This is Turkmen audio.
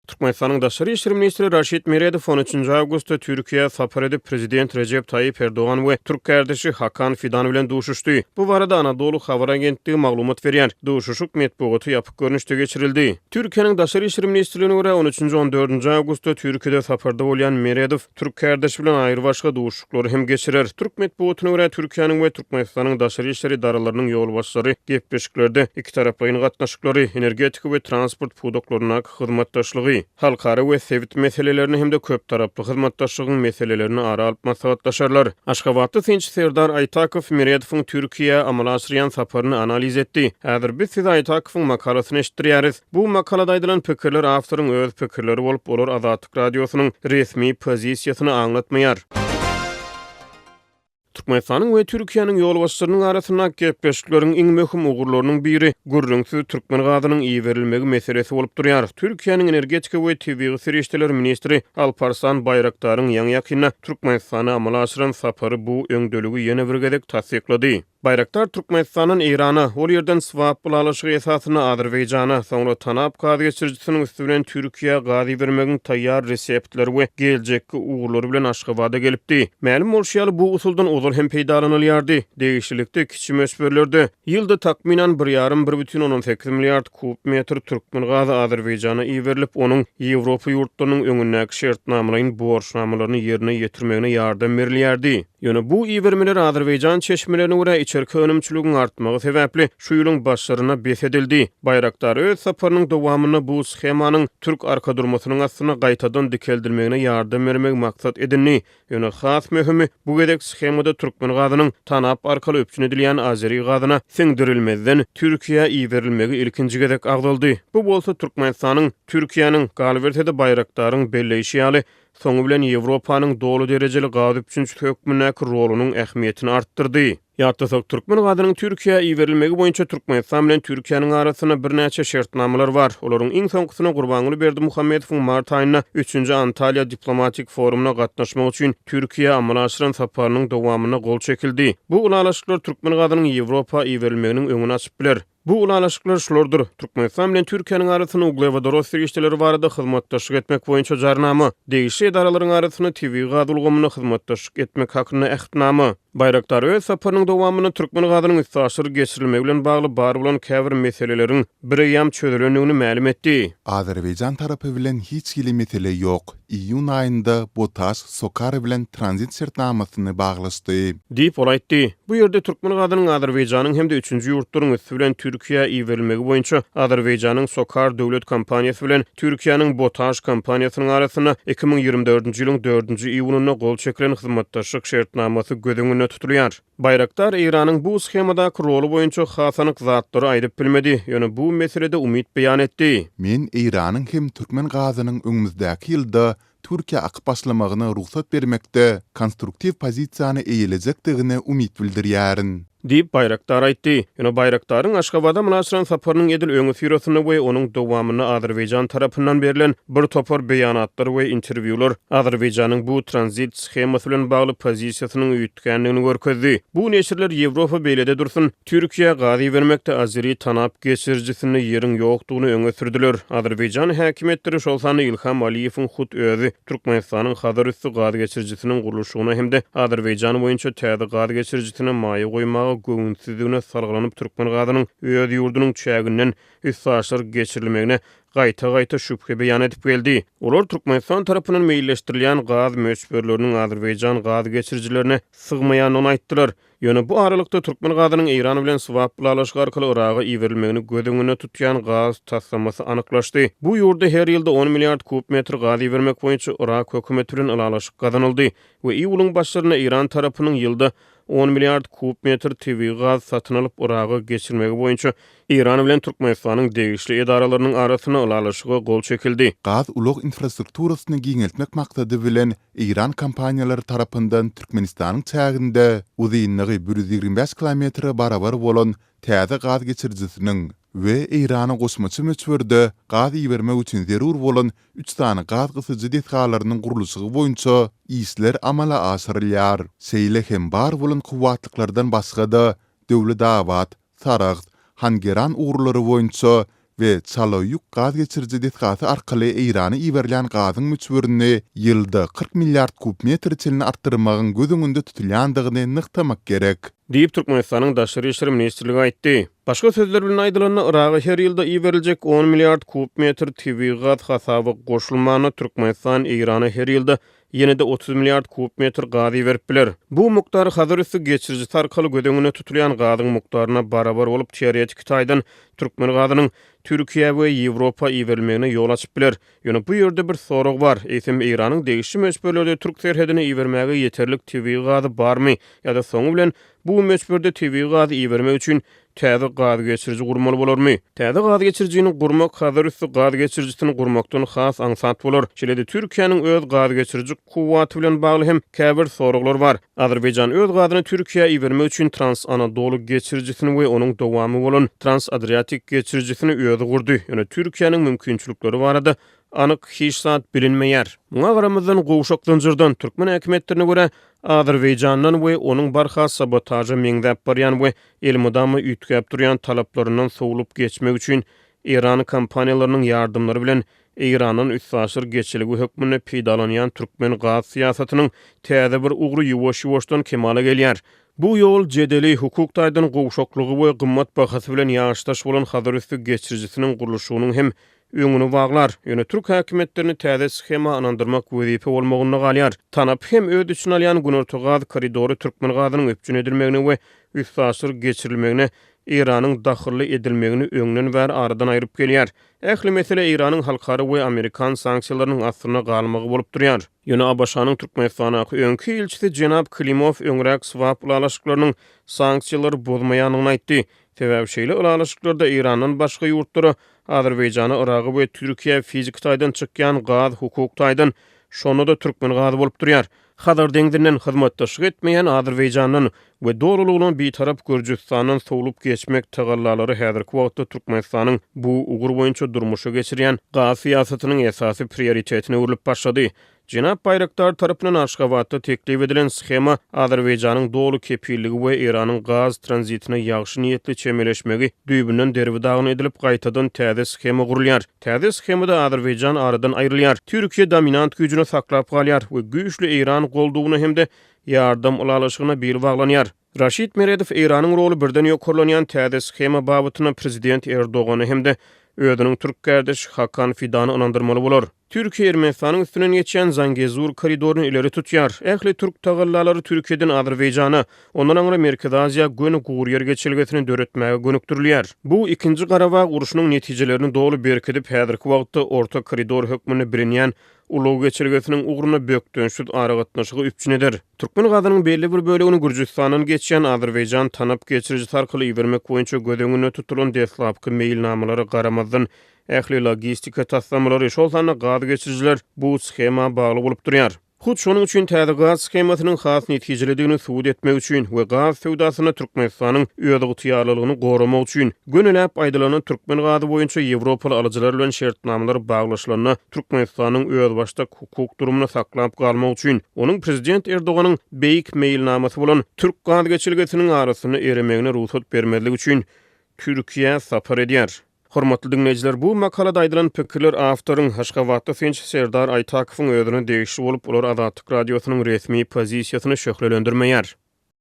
Türkmenistanyň daşary işler ministri Raşid Meredow on üçünji awgustda Türkiýä sapar edip, prezident Rejep Taýýip Erdogan we türk kärdeşi Hakan Fidan bilen duşuşdy. Bu barada Anadolu habar agentligi maglumat berýär. Duşuşyk metbugata ýapyk görnüşde geçirildi. Türkiýäniň Daşary işler ministrligine görä, on üçünji-on dördünji awgustda Türkiýede saparda bolýan Meredow türk kärdeşi bilen aýrybaşga duşuşyklary hem geçirer. Türk metbugatyna görä, Türkiýäniň we Türkmenistanyň daşary işler edaralarynyň ýolbaşçylary gepleşiklerde ikitaraplaýyn gatnaşyklary, energetika we transport pudaklaryndaky hyzmatdaşlygy, halkara we sebit meselelerini hem-de köptaraply hyzmatdaşlygyň meselelerini ara alyp maslahatlaşarlar. Aşgabatly synçy Serdar Aýtakow Meredowyň Türkiýä amala aşyrýan saparyny analiz etdi. Häzir biz size Aýtakowyň makalasyny eşitdirýäris. Bu makalada aýdylan pikirler awtoryň öz pikirleri bolup, olar Azatlyk Azatlyk Radiosynyň resmi pozisiýasyny aňlatmaýar. Türkmenistanyň we Türkiýäniň ýolbaşçylarynyň arasyndaky gepleşikleriň iň möhüm ugurlarynyň biri gürrüňsiz türkmen gazynyň iberilmegi meselesi bolup durýar. Türkiýäniň energetika we tebigy serişdeler ministri Alparslan Baýraktaryň ýaňy-ýakynda Türkmenistana amala aşyran sapary bu öňdeligi ýene bir gezek tassyklady. Baýraktar Türkmenistandan Eýrana, ol ýerden swap ylalaşygy esasynda Azerbaýjana, soňra Tanap gaz geçirijisiniň üsti bilen Türkiýä gaz ibermegiň taýýar reseptleri we geljekki ugurlary bilen Aşgabada gelipdi. Mälim bolşy ýaly, bu usuldan ozal hem peýdalanylýardy. Degişlilikde kiçi möçberlerde, ýylda takmynan bir ýarym, bir bütin ondan sekiz milliard kub metr türkmen gazy Azerbaýjana iberilip, onuň Ýewropa ýurtlarynyň öňündäki şertnamalaýyn borçnamalaryny ýerine ýetirmegine ýardam berilýärdi. Ýöne bu ibermeler azerbaýjan çeşmelerine görä içerki önümçiligiň artmagy sebäpli şu ýylyň başlaryna bes edildi. Bayraktar öz saparynyň dowamynda bu shemanyň türk arkadurmasynyň astynda gaýtadan dikeldilmegine ýardam bermegi maksat edindi. Ýöne has möhümi bu gezek shemada türkmen gazynyň Tanap arkaly üpjün edilýän azeri gazyna siňdirilmezden Türkiýä iberilmegi ilkinji gezek agzaldy. Bu bolsa Türkmenistanyň Türkiýäniň, galyberse-de Bayraktaryň belleýşi ýaly, soňy bilen Ýewropanyň doly derejeli gaz üpjünçisi hökmündäki rolunyň ähmiýetini artdyrdy. Ýatlasak, türkmen gazynyň Türkiýä iberilmegi boýunça Türkmenistan bilen Türkiýäniň arasynda birnäçe şertnamalar bar. Olaryň iň soňkusyna Gurbanguly Berdimuhamedowyň mart aýynda üçünji Antalýa diplomatik forumyna gatnaşmak üçin Türkiýä amala aşyran saparynyň dowamynda gol çekildi. Bu ylalaşyklar türkmen gazynyň Ýewropa iberilmeginiň öňüni açyp biler. Bu ylalaşyklar şulardyr, Türkmenistan bilen Türkiýäniň arasynda uglewodorod serişdeleri barada hyzmatdaşlyk etmek boýunça Jarnama, degişli edaralaryň arasynda tebigy gaz ulgamynda hyzmatdaşlyk etmek hakynda Ähtnama. Bayraktar öz saparynyň dowamynda türkmen gazynyň üstaşyr geçirilmegi bilen bagly bar bolan käbir meseleleriň bireýýäm çözülendigini mälim etdi. Azerbaýjan tarapy bilen hiç hili mesele ýok. Iýun aýynda BOTAŞ Sokar bilen tranzit şertnamasyny baglaşdy. Diýip, ol aýtdy. Bu ýerde türkmen gazynyň Azerbaýjanyň hem-de üçünji ýurtlaryň üsti bilen Türkiýä iberilmegi boýunça Azerbaýjanyň Sokar döwlet kompaniýasy bilen Türkiýäniň BOTAŞ kompaniýasynyň arasynda iki müň ýigrimi dördünji ýylyň dördünji iýunynda gol çekilen hyzmatdaşlyk şertnamasy göz öňünde tutulýar. Baýraktar Eýranyň bu shemadaky roly boýunça has anyk zatlary aýdyp bilmedi, ýöne bu meselede umyt beýan etdi. Men Eýranyň hem türkmen gazynyň öňümizdäki ýylda Türkiýä akyp başlamagyna rugsat bermekde konstruktiw pozisiýany eýelejekdigine umyt bildirýärin. Diýip, Baýraktar aýtdy. Ýöne Baýraktaryň Aşgabada mylaçlan saparynyň edil öňüsyrasynda we onuň dowamynda Azerbaýjan tarapyndan berlen bir topar beýanatlar we interwýular Azerbaýjanyň bu tranzit shemasy bilen bagly pozisiýasynyň Tükändigini görkezdi. Bu neşirler Ýewropa beýlede dursun, Türkiýä gaz ibermekde azeri tanap geçirijisinde ýeriň ýokdugyny öňe sürdiler. Azerbaýjan häkimiýetleri, şol sanda Ilham Aliýewiň hut özi, Türkmenistanyň Hazar üsti gaz geçirijisiniň gurluşygyna hem-de Azerbaýjan boýunça täze gaz geçirijisine maýa goýmaga göwünsizdigine salgylanyp türkmen gazynyň öz ýurdunyň çäginden üstaşyr geçirilmegine gaýta-gaýta şübhe beýan edip geldi. Olar Türkmenistan tarapyndan meýilleşdirilýän gaz möçberleriniň azerbaýjan gaz geçirijilerine sygmaýandygyny aýtdylar. Ýöne bu aralykda, türkmen gazynyň Eýran bilen swap ylalaşygy arkaly Yraga iberilmegini göz öňünde tutýan gaz taslamasy anyklaşdy. Bu ýurda her ýylda on milliard kub metr gaz ibermek boýunça Yrak hökümeti bilen ylalaşyk gazanyldy we iýulyň başlarynda Eýran tarapynyň ýylda on milliard kub metr tebigy gaz satyn alyp Yraga geçirmegi boýunça Eýran bilen Türkmenistanyň degişli edaralarynyň arasynda ylalaşyga gol çekildi. Gaz ulag infrastrukturasyny giňeltmek maksady bilen eýran kompaniýalary tarapyndan Türkmenistanyň çäginde uzynlygy bir ýüz ýigrimi bäş kilometre barabar bolan täze gaz geçirijisiniň we Eýrana goşmaça möçberde gaz ibermek üçin zerur bolan üç sany gaz gysyjy desgalarynyň gurluşygy boýunça işler amala aşyrylýar. Şeýle hem bar bolan kuwwatlyklardan başga-da Döwletabat, Saragt, Hangeran ugurlary boýunça we Çalo ýük gaz geçiriji desgasy arkaly Eýrana iberilýän gazyň möçberini ýylda kyrk milliard kub metre çenli artdyrmagyň göz öňünde tutulýandygyny nygtamak gerek. Diýip, Türkmenistanyň Daşary işler ministrligi aýtdy. Başga sözler bilen aýdylanda, Yraga her ýylda iberiljek on milliard kub metr tebigy gaz hasaba goşulmanda, Türkmenistan Eýrana her ýylda ýene-de otuz milliard kub metr gaz iberip biler. Bu mukdar Hazar üsti geçirijisi arkaly göz öňünde tutulýan gazyň mukdaryna barabar bolup, teoretiki taýdan türkmen gazynyň Türkiýä we Ýewropa iberilmegine ýol açyp biler. Ýöne bu ýerde bir sorag bar, eýsem Eýranyň degişli möçberlerde türk serhedine ibermäge ýeterlik tebigy gazy barmy ýa-da soňy bilen bu möçberde tebigy gazy ibermek üçin Täze gaz geçiriji gurmaly bolarmy? Täze gaz geçirijini gurmak Hazar üsti gaz geçirijisini gurmakdan has aňsat bolar. Şeýle-de Türkiýäniň öz gaz geçiriji kuwwaty bilen bagly hem käbir soraglar bar. Azerbaýjan öz gazyny Türkiýä ibermek üçin Trans-Anadolu geçirijisini we onuň dowamy bolan Trans-Adriatik geçirijisini özi gurdy, ýöne Türkiýäniň mümkinçilikleri barada anyk hiç zat bilinmeýär. Muňa garamazdan, gowşak zynjyrdan, türkmen häkimiýetlerine görä, Azerbaýjandan we onuň barha sabotaža meňzäp barýan we elmydama üýtgäp durýan talaplaryndan sowlup geçmek üçin eýran kompaniýalarynyň ýardymlary bilen Eýrandan üstaşyr geçelge hökmünde peýdalanýan türkmen gaz syýasatynyň täze bir ugry ýuwaş-ýuwaşdan kemala gelýär. Bu ýol jedeli, hukuk taýdan gowşaklygy we gymmat bahasy bilen ýaşdaş bolan Hazarüsti geçirijisiniň gurluşygynyň hem öňüni baglar. Ýöne türk häkimiýetlerini täze shema ynandyrmak wezipe bolmagynda galýar. TANAP hem öz içine alýan Günorta gaz koridory türkmen gazynyň üpjün edilmegine we üstaşyr geçirilmegine Eýranyň dahylly edilmegini öňden bäri aradan aýryp gelýär. Ähli mesele Eýranyň halkara we amerikan sanksiýalarynyň astynda galmagy bolup durýar. Ýöne ABŞ-nyň Türkmenistandaky öňki ilçisi jenap Klimow öňräk swap ylalaşyklarynyň sanksiýalary bozmaýandygyny aýtdy, sebäbi şeýle ylalaşyklarda Eýrandan başga ýurtlara, Azerbaýjana, Yraga we Türkiýä fiziki taýdan çykýan gaz hukuk taýdan, şonda-da türkmen gazy bolup durýar. Hazar deňzinden hyzmatdaşlyk etmeýän Azerbaýjandan we dolulygyna Bitarap Gürjüstandan sowlup geçmek tagallalary häzirki wagtda Türkmenistanyň bu ugur boýunça durmuşa geçirýän gaz syýasatynyň esasy prioritetine öwrülip başlady. Jenap Baýraktar tarapyndan Aşgabatda teklip edilen shema Azerbaýjanyň doly kepilligi we Eýranyň gaz tranzitine ýagşy niýetli çemeleşmegi düýbünden derbi-dagyn edilip, gaýtadan täze shema gurulýar. Täze shemada Azerbaýjan aradan aýrylýar, Türkiýe dominant güýjüni saklap galýar we güýçli Eýran goldawyna hem-de Ýardam ylalaşygyna bil baglanýar. Raşid Meredow Eýranyň roly birden ýokarlanýan täze shema babatynda prezident Erdogany hem-de özüniň türk kärdeşi Hakan Fidany ynandyrmaly bolar. Türkiýe Ermenistanyň üstünden geçýän Zangezur koridoryny ileri tutýar. Ähli türk tagallalary Türkiýeden Azerbaýjana, ondan aňry Merkezi Aziýa göni gury ýer geçelgesini döretmäge gönükdirilýär. Bu Ikinji Garabag urşunyň netijelerini doly berkidip, häzirki wagtda orta koridor hökmünde bilinýän ulag geçelgesiniň ugruna bökdençsiz aragatnaşygy üpjün eder. Türkmen gazynyň belli bir bölegini Gürjüstandan geçýän Azerbaýjan tanap geçirijisi arkaly ibermek boýunça göz öňünde tutulan deslapky meýilnamalara garamazdan, ähli logistika taslamalary, şol sanda gaz geçirijiler bu shema bagly bolup durýar. Hut şonuň üçin täze gaz shemasynyň has netijelidigini subut etmek üçin we gaz söwdasynda Türkmenistanyň özygtyýarlylygyny goramak üçin, gönüläp aýdylanda, türkmen gazy boýunça ýewropaly alyjylar bilen şertnamalar baglaşylanda, Türkmenistanyň özbaşdak hukuk durumyny saklap galmak üçin, onuň prezident Erdoganyň beýik meýilnamasy bolan türk gaz geçelgesiniň arasynda eremegine rugsat bermezlik üçin Türkiýä sapar edýär. Hormatly diňleýjiler, bu makalada aýdylan pikirler awtoryň, Aşgabatly synçy Serdar Aýtakowyň özüne degişli bolup, olar Azatlyk Radiosynyň resmi pozisiýasyny şöhlelendirmeýär.